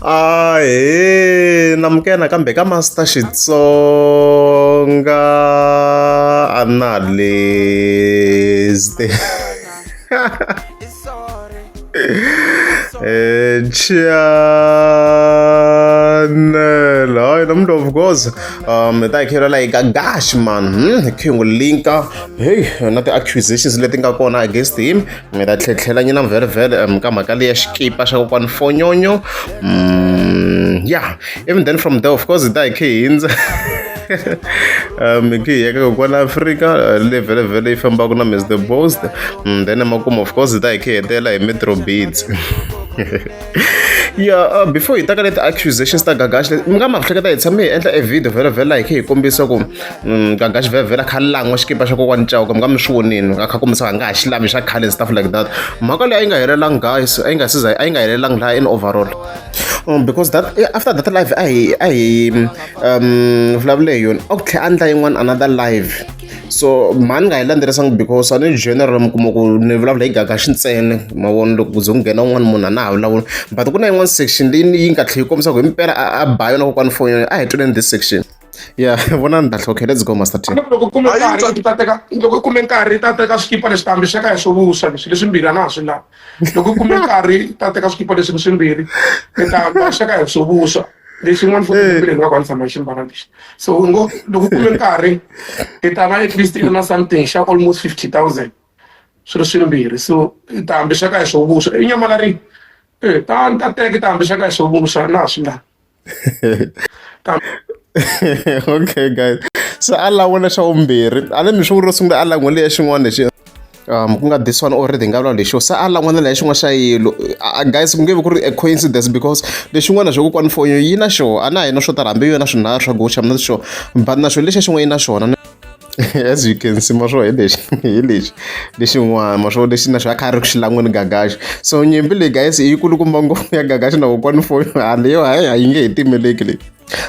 a he namukela kambe ka master xitsonga analyst eh channel hayi nomntu of course um ta hi khela like gash man hmm, hi khingwe linka hey na ti-accusations leti nga kona against him mi ta tlhetlhela nyina mvhelemvhele um ka mhaka leyi ya xikipa xa kokwani fonyonyo um ya even then from there of course hi ta hi khe hindza um hi khe hi yeka kokwani afrika uh, le vhelevhele yi fambaka na mis the bost mm, then emakumu of course hi ta hi khe hetela hi metro beats ya uh, before hi taka leti accusations ta gagash leti mi nga ma hleketa hi tshame hi endla e video vhela vhela hi khe hi kombisa ku mm, gagash vhela vhela kha langwa xikipa xa kokwani cawuka mi nga mi swi vonini nga kha kombisa nga ha xi lami xa khale stuff like that mhaka leyi a yi nga helelangi guys a yi nga siza a yi nga helelangi laha in overall um, because that eh, after that live a hi a hi um vulavule hi yona a ku tlhe a ndla yin'wana another live so mhani nga yi landzerisangi because a ni general mi kuma ku ni vulavula hi gagaxi ntsena mavona loko ku ze ku nghena un'wana munhu a na ha vulavula but ku na yin'wana section leyi yi nga tlhela yi kombisa ku hi mpela a ba yona kokwani foni yona a hi tweleni this section ya vona ni ta hlokhe let's go master team loko kume nkarhi ta teka loko kume nkarhi ta teka swikipa leswi kambe xaka ya swo vuswa leswi leswimbirhi a na ha swi lavi loko u kume nkarhi ta teka swikipa leswi swimbirhi mi ta ta sweka hi swo vuswa lexi n'wana fo mpileni va ku a ni tshama hi ximbala lexi so u ngo loko u kume nkarhi i ta va at least i na something xa almost fifty thousand swi ri swimbirhi so i ta hambi sweka hi swo vuswa i nyamala ri e ta ni ta teka i ta hambi sweka hi swo vuswa na swi nga okay guys so a lan'we lexa vumbirhi a ni mi swi vuri ro sungula a lan'we leya xin'wana lexi um ku nga this one already nga vula lexo se a lan'wana leya xin'wana xa yilo guys ku nge vi ku ri a coincidence because lexin'wana xo kokwani fonyo yi na xona a na ha yi na swo tala hambi yona swinharhu swa goxa mi na xona but na xona lexa xin'wana yi na xona as you can see maswo hi lexi hi lexi lexin'wana maswo lexi na xo a kha a ri ku xi lan'weni gagaxi so nyimpi leyi guys yi kulukumba ngopfu ya gagaxi na kokwani foyo haleyo hayi a yi nge he timeleki leyi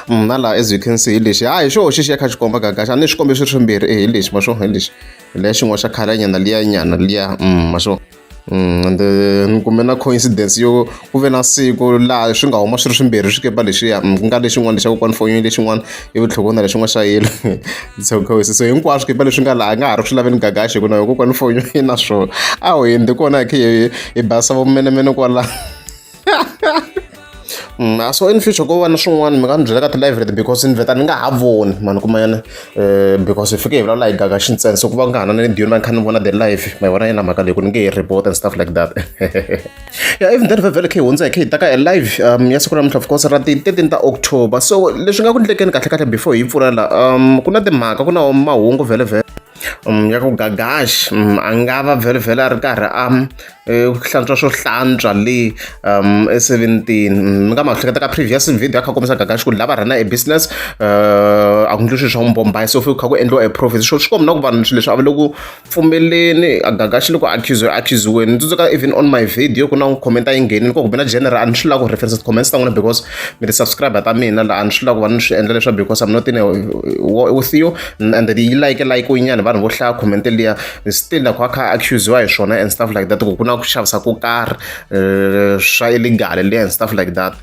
mm, na laha as you can see hi lexi hayi xo xi xi ya kha xi komba gagaxi a ni swi kombe swi ri swimbirhi e hi lexi maswo hi lexi hi leya xin'wana xa khalanyana liya nyana liya mm, maswo ende ni kume na coincidence yo ku ve na siku laha swi nga huma swi ri swimbirhi swikepe lexiya ku nga lexin'wana xa kokwani Fonyo lexin'wana ivi tlhelo ku na lexin'wana xa yellow so coincidence hinkwaswo swikepe leswi nga laha a nga ha ri swi laveni gagaxi hi ku na yo kokwani Fonyo yi na swona a ho yini kona hi khe hi hi basisa vomenemene kwala. Mm, a so in future ko va na swin'wana mi nga ni byela ka ti-live leti because ni vheta ni nga ha voni mani kuma yona um because hi fike hi vulavula hi gaga xi ntsena so ku va ku nga ha na na ni diyoni va ni kha ni vona the live ma vona yena mhaka leyi ku ni nge hi report and stuff like that ya even then vhevhele khe hi hundza hi khe hi ta ka e live um ya siku namuntlha of course ra ti-thirteen ta october so leswi nga ku ndlekeni kahlekahle before hi yi pfula la um ku na timhaka ku na mahungu vhele vhele ya ku Gagash a nga va vhela-vhela a ri karhi a hlantswa swo hlantswa le eseventini. Ni nga ma hleketa ka previous video a kha a kombisa Gagash ku lava run-a e business a ku endliwi swilo swa n'wi se ku kha ku endliwa e profit. Swi komba na ku vanhu swilo leswi a va le ku pfumeleni, a Gagash loko a akhuziwa a akhuziweni. Ni tsundzuka even on my video ku na n'wi comment a yi nghenile koho kumbe na general a ni swi lavi ku reference ti-comments ta n'wina because mi ri subscriber ta mina la a ni swi lavi ku va ni swi endla leswaku because I'm not in a war with you. and yi like like nyana vanhu vo hlaya comment liya still a kha a kha accusiwa hi swona and stuff like that ku ku na ku xavisa ko karhi eh, swa illegal liya and stuff like that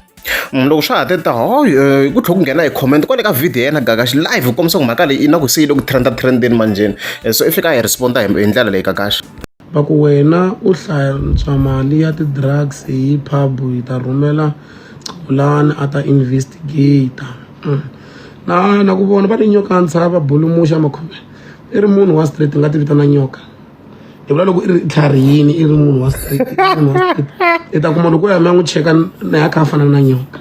mm, loko swa ha te ta hoy eh, ku tlhela ku nghena hi comment kwale ka video yena gagaxi live ku kombisa ku mhaka leyi i na ku se yi le ku trenda trendeni manjheni eh, so i fika a hi responda hi ndlela leyi gagaxi Va ku, Wena u hlantswa mali ya ti-drugs hi pub, hi ta rhumela Xolani a ta investigator. Na na ku vona va ri nyoka ya ntshava bulumuxa makhoveni. I ri munhu wa straight ni nga ti vitana nyoka. Ni vula loko i ri tlharihini i ri munhu wa straight i ta kuma loko o ya mi ya n'wi cheka na ya kha a fana na nyoka.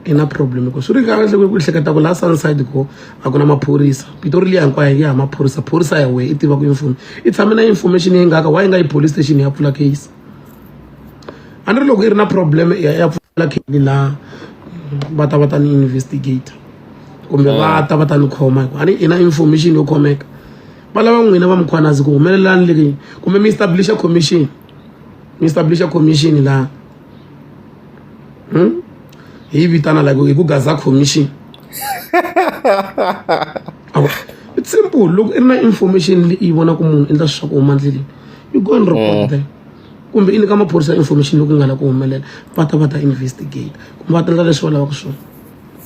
i na problem ku swi ri kahle ku ku hleketa ku la sunside ko a ku na maphorisa pitori liya hinkwayo yi ya hi maphorisa phorisa ya wehe i tiva ku yimfumo i tshame na information yi ngaka wa yi nga yi police station ya pfula case a ni ri loko yi ri na problem ya ya pfula case la va ta va ta ni investigator kumbe va ah. ta va ta ni khoma hikuva a ni i na information yo khomeka va lava n'wina va mukhwanazi ku humelelani leki kumbe mi establisha commission mi establisha commission laha hmm? he vitana like okay ku gaza commission it's simple loko i ri na information leyi vona ku munhu endla swiswa ku huma ndleleni you go and report mm. them kumbe i nyika maphorisa information loko nga la ku humelela va ta va ta investigate kumbe va ta endla leswi va lavaka swona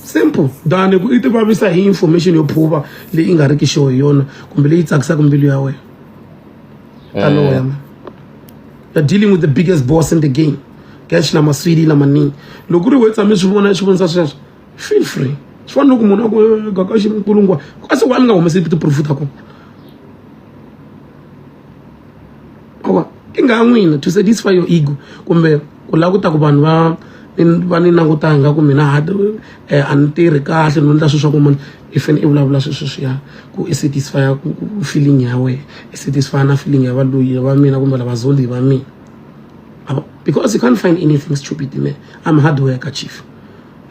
simple than ku i ti vavisa hi information yo phuva leyi nga riki xo hi yona kumbe leyi tsakisaka mbilu ya wena taloya mm. you're dealing with the biggest boss in the game cash na maswidi na maningi loko ri we tshame swi vona swi vonisa sweswo feel free swi fana loko munhu a ku gaka xi nkulungwa a se wa ni nga humesi tiproof ta kona awa i nga n'wina to satisfy your ego kumbe ku lava ku ta ku vanhu va va ni langutanga ku mina ha eh, a ni tirhi kahle no endla swilo swa ku munhu i fane i vulavula swi sweswiya ku i satisfy ku feeling ya wena i satisfy na feeling ya valoyi va mina kumbe lava zoli va mina because you can't find anything stupid me i'm hard worker chief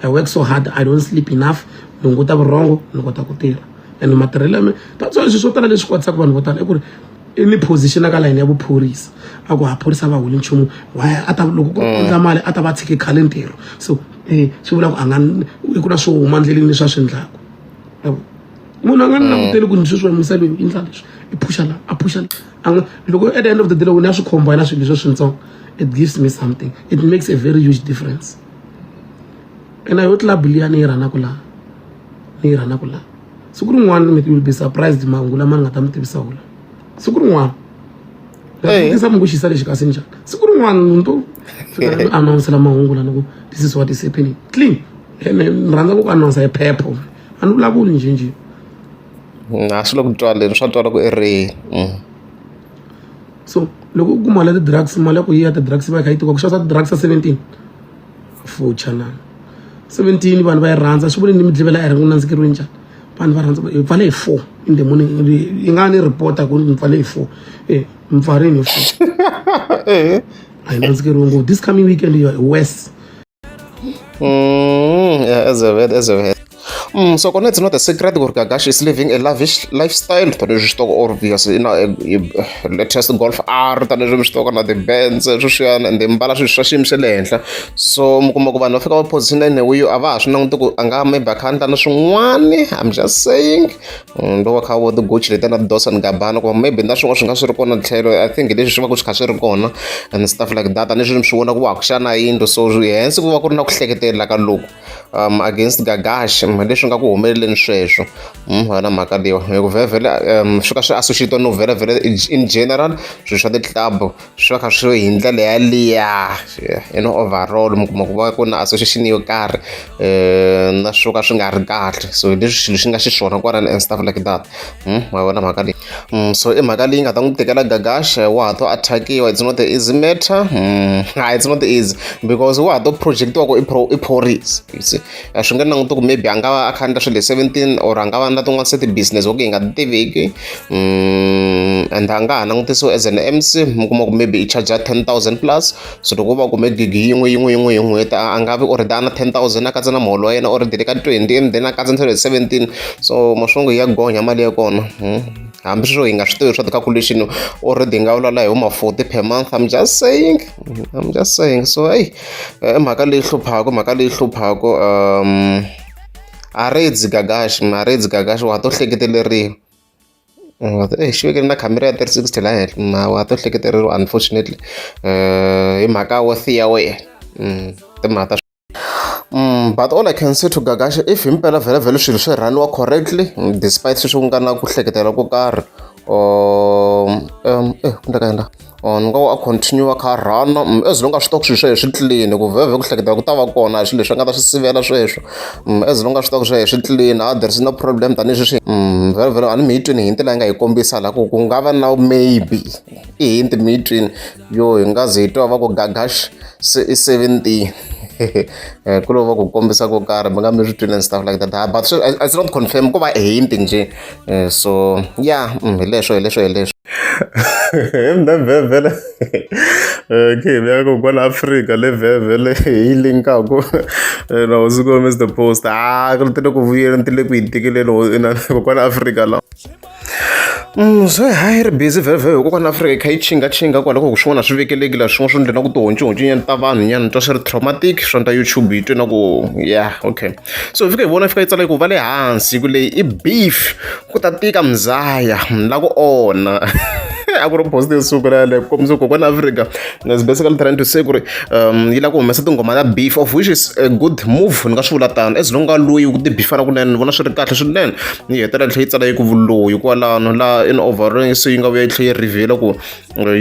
i work so hard i don't sleep enough ni hunguta vurhongo ni kota ku tirha and matirhelo ya me that's why leswi swo tala leswi kwatisaka vanhu vo tala i ku ri i ni position ka layini ya vuphorisa a ku ha phorisa va holi nchumu why a ta loko ku endla mali a ta va tshike khale ntirho so e swi vula ku a nga i ku na swo huma ndleleni leswi a swi endlaku yabo munhu a nga ni mm. languteli ku ndzi sweswi wamisa loyi i ndla leswi i phusha la a phusha la a nga loko at the end of the day loko ni ya swi khomba yena swilo leswi swintsongo it gives me something it makes a very huge difference and yo club liya ni yi rhanaka laha ni yi rhanaka laha siku rin'wana mi will be surprised mahungu lama ni nga ta mi tivisa wona siku rin'wana ndakutisa mungu xisa lexi kasi njhani siku rin'wana munhu to fika anawunsela mahungu lana ku this is what is happening clean ene ni rhandza ku ku anawunsa hi phepho a ni vulavuli njhenjhe mm, a swi le ku twaleni swa twala ku ereni mm. so loko u kuma la ti-drugs mali ya ku yi ya ti-drugs va yi kha yi tiwa ku xavisa ti-drugs ya seventeen fucha na seventeen vanhu va yi rhandza swi vule ni mi dlivela ere ku nandzikeriwe njhani vanhu va rhandza hi pfale hi four in the morning yi nga ni reporta ku mi pfale hi four e mi pfarini hi four eh. a hi nandzikeriwe ngopfu this coming weekend you are worse Mm, yeah, as a bad, as a bad. Mm, so kona it's not a secret gore Gagashi is living a lavish lifestyle tani zwi xitoko or because you know latest golf art tani zwi xitoko na the bands sweswiyana and mbala swilo swa xiyimo xa le henhla so mi kuma ku vanhu va fika va position ene wiyo a va ha swi languti ku a nga maybe a kha a ndla na swin'wani i'm just saying mm, loko kha vo tigochi leti na tidosa ni gabana kuma maybe na swin'wana swi nga swi ri kona tlhelo i think leswi swi va ku swi kha swi ri kona and stuff like that ni swi vona ku wa ku xana yindlu so hensi ku va ku ri na ku hleketelela ka loko um against gagash mm, leswi nga ku humeleleni sweswo mm, wena mhaka leyiwa hi ku vhevhele um swi ka swi associatiwa no vhele vhele in general swilo swa ti-club swi va kha swi hi ndlela yaliya in overall mi kuma ku va ku na association yo karhi um na swo ka swi nga ri kahle so hi leswi xilo xi nga xiswona kwalani and stuff like that hmm, ma vona mhaka leyi hmm, so i mhaka leyi nga ta n'wi tekela gagasha wa ha to attackiwa it's not the easy matter hmm, it's not easy because wa ha to projectiwa ku i phorisa you see a swi nga languti ku maybe a nga va a kha endla swilo hi seventeen or a nga va na tin'wana se ti-business vo ku hi nga ti tiviki mm, and a nga ha langutisiwa as an mc mi kuma ku maybe i charger ten thousand plus so loko va kume gigi yin'we yin'we yin'we hi n'hweti a nga vi or da na ten thousand a katsa na muholo wa yena or dele ka twenty and then a katsa ntselo hi seventeen so maswongo ya gonya mali ya kona hmm. hambi sweswo hi nga swi tivi swa ti-calculation already hi nga vulavula hi vo ma-forty per month i'm just saying i'm just saying so hey eh, i mhaka leyi hluphaka mhaka leyi hluphaka um a redzi gagashi ma redzi gagashi wa ha to hleketeleriwa eh, xi vekele na khamera ya 360 la henhla ma wa to hleketeleriwa unfortunately um hi mhaka wo thiya wena mm, timhaka ta Mm, but all I can say to Gagasha if himpela vhele vhele swilo swi rhaniwa correctly despite sweswi ku nga na ku hleketela ko karhi or um, um eh ku ndeka yena or ni ngo a continue kha run mm, as long as swi tiva ku swilo swehe swi clean ku vhevhe ku hleketa ku ta va kona swilo leswi a nga ta swi sivela sweswo mm, as long as swi tiva ku swehe swi clean ah, there is no problem tanihi sweswi mm, vhele vhele a ni mi yi twini hinti leyi nga yi kombisa laha ku ku nga va na maybe i hinti mi yi twini yo hi nga ze hi twa va ku gagash se i seventeen eh, ku lova ku kombisa ko karhi mi nga mi swi twini and stuff like that ah, but it's not confirm ku va hinti njhe eh, so ya mm, hi leswo hi leswo hi leswo mvhevhele okay eh, vuyaka kwala afrika le vhevhele hi linkaku eh, na hosi ko mr post a ah, ri ti le ku vuyela ni ti le ku yi tikeleni kwala afrika lawa Mm, so hayi ri busy vhevhe hi kokwana afrika yi kha yi chingachinga kwala ku swin'wana swi vekeleki laha swin'wana swi ndlela ku tihoncohonco nyana ta vanhu nyana twa swi ri traumatic swa nta youtube yi twe na ku ya okay so hi fika hi vona yi fika yi tsala ku va le hansi ku leyi i beef ku ta tika muzaya ni la ku onha a ku ri post yo sungula yaleyo ku kombisa ku kokwana africa is basically trying to say ku ri um yi lava ku humesa tinghoma ta beef of which is a good move ni nga swi vula tano as long ka loyi ku tibifana kunene ni vona swi ri kahle swinene yi hetelela tlhe yi tsala yi ku vuloyi kwalano la in overall se yi nga vuya yi tlhe yi reveal ku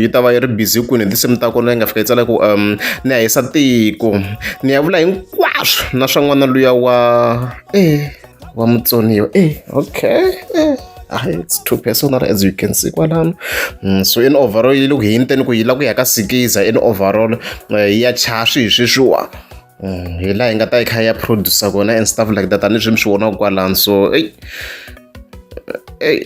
yi ta va yi ri busy kwini hi tinsimu ta kona yi nga fika yi tsala ku um ni ya hisa tiko ni ya vula hinkwaswo na swa n'wana luya wa e wa mutsoniwa e okay e Ah, it's too personal as you can see kwalano mm, so in overall yi le ku hinteni ku yi la ku ya ka sikiza in overall eh, ya chaswi hi sweswiwa hi laha yi nga ta yi kha ya producer kona and stuff like that aniswi mi swi vonaka kwalani so eyi eyi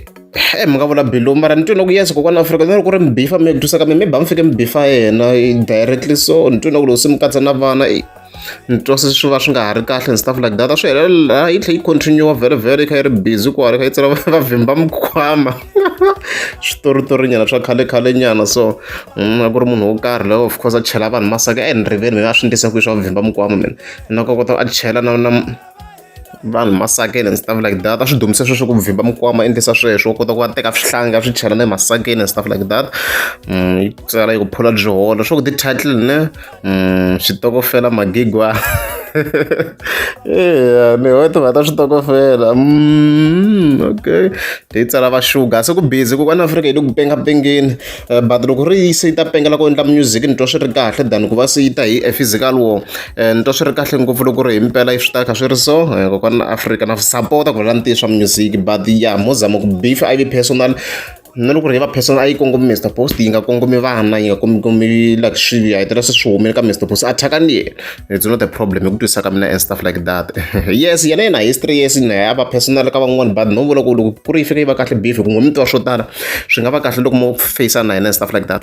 e mi nga vula bilu mara ni twi na ku yes kokwana afrika na loko ri mi bifa mi twisaka mi mi ba mi fike mi bifa yena directly so ni twi na ku loko se mi katsa na vana eyi ni twa se swi va swi nga ha ri kahle and stuff like that a swi helela yi tlhe yi continue vhele vhele yi kha yi ri busy ku hari kha yi tsala va vhimba mikhwama switoritorinyana swa khale khale nyana so Mm, a ku ri munhu wo karhi loyo of course a chela vanhu masaka e eh, ni rivele mina a swi ndlisa kwihi swa ku vhimba mukwama mina na ka kota a chela na na vanhu masakeni and stuff like that a swi dumise sweswo ku vhimba mukwama endlisa sweswo kota ku va teka swihlanga a swi chela na emasakeni and stuff like that mm, yi tsala yi ku phula byi holo swa ku ti-title ne Mm, switokofela magigwa eya ni ho timhaka ta switokofela mm, okay hi tsala va sugar se ku busy ku kwana afrika yi le ku pengapengeni eh, but loko ri se yi ta pengela ku endla music ni twa swi ri kahle than ku va se yi ta hi a physical war eh, ni twa swi ri kahle ngopfu loko ri hi mpela yi swi ta kha swi ri so eh, kokwana afrika na sapota ku rhela ni tiyi swa music but ya mozama ku beef iv personal na loko ri va person a yi kongomi Mister Post yi nga kongomi vana yi nga kongomi like swilo ya hetelela se swi humile ka Mister Post a thyaka ni yena it's not a problem hi ku twisisa ka mina and stuff like that yes yena yena history yes na ya va personal ka van'wani but no vula ku loko ku ri yi fika yi va kahle beef ku ngomitiwa swo tala swi nga va kahle loko mo face na yena and stuff like that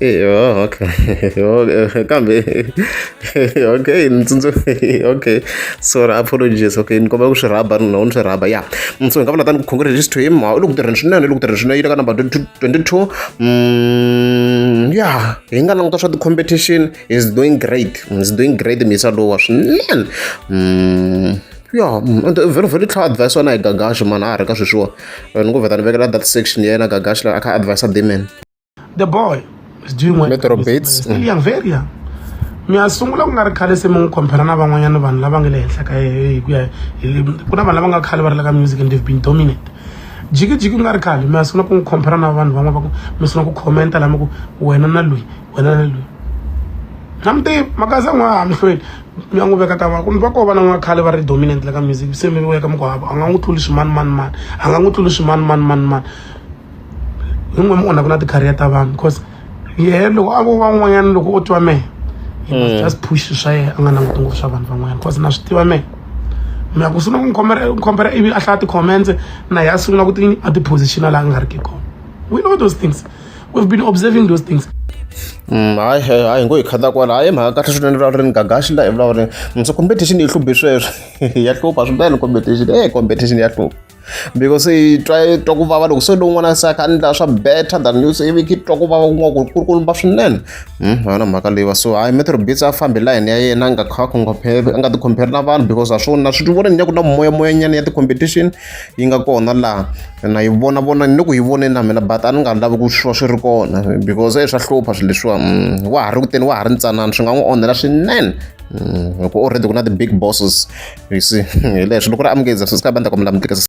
Hey, oh, okay. okay. Kambe. okay, ntsundzu. okay. So apologies. Okay, ni kombela ku swi rhaba ni nawu ni swi rhaba. Yeah. Mm, so hi nga vula tani ku congratulations to him. U le ku tirheni swinene, u le ku tirheni swinene. Yi le ka number 22. Mm, yeah. Hi nga languta swa ti-competition. He's doing great. He's doing great misa lowa swinene. Mm. ya vhelo vhelo tlhela advise na hi gagaxi mani a ha ri ka sweswiwa ni ku vheta ni vekela that section ya yena gagaxi la a kha advise deman the boy is doing well metro bates still young very young mi ya sungula ku nga ri khale se mi n'wi compare na van'wanyana vanhu lava nga le henhla ka hi ku ya ku na vanhu lava nga khale va ri la ka music and they've been dominant jikijiki ku nga ri khale mi ya sungula ku n'wi compare na vanhu van'wana va ku mi sungula ku commenta lama ku wena na loyi wena ni loyi na mi tivi makaza n'wa ha mi hlweli mi ya n'wi veka ta va kumbe va kova na n'wa khale va ri dominant la ka music se mi veka mi ku hava a nga n'wi tluli swimani mani mani a nga n'wi tluli swimani mani mani mani hi n'we mi onhaka na ti-career ta vanhu because yehe loko a vo van'wanyana loko o twa mehe Mm. just push swa yena a nga languti ngopfu swa vanhu van'wanyana because na swi tiva mehe mi ya ku sungula ku n'wi khombela ivi a hlaya ti-comments na yehe a sungula ku ti a ti-position a laha a nga ri ki kona we know those things we've been observing those things Mm, hayi hayi hayi ngo hi khata kwala hayi mhaka kahle swinene vulavula ni gagaxi la hi vulavula ni so competition yi hluphi sweswo ya hlupha swinene competition e competition ya hlupha because yi twa yi twa ku vava loko se lowun'wana se a kha a endla swa better than you se ivi ki twa ku vava ku nga ku ri ku ri ku lumba swinene Mm, yona mhaka leyiwa so hayi metro bits a fambi layini ya yena a nga kha a compare- a nga ti compare na vanhu because a swo na swi vona ni ya ku na moyamoyanyana ya ti-competition yi nga kona laha na yi vona vona ni ku yi vone na mina but a ni nga lavi ku swi va swi ri kona because e swa hlupha swilo leswiwa mm, wa ha ri kuteni wa ha ri ntsanana swi nga n'wi onhela swinene mm, hikuva already ku na ti-big bosses you see hi leswi loko ri amukeza swi sika bandla kombela mi tirhisa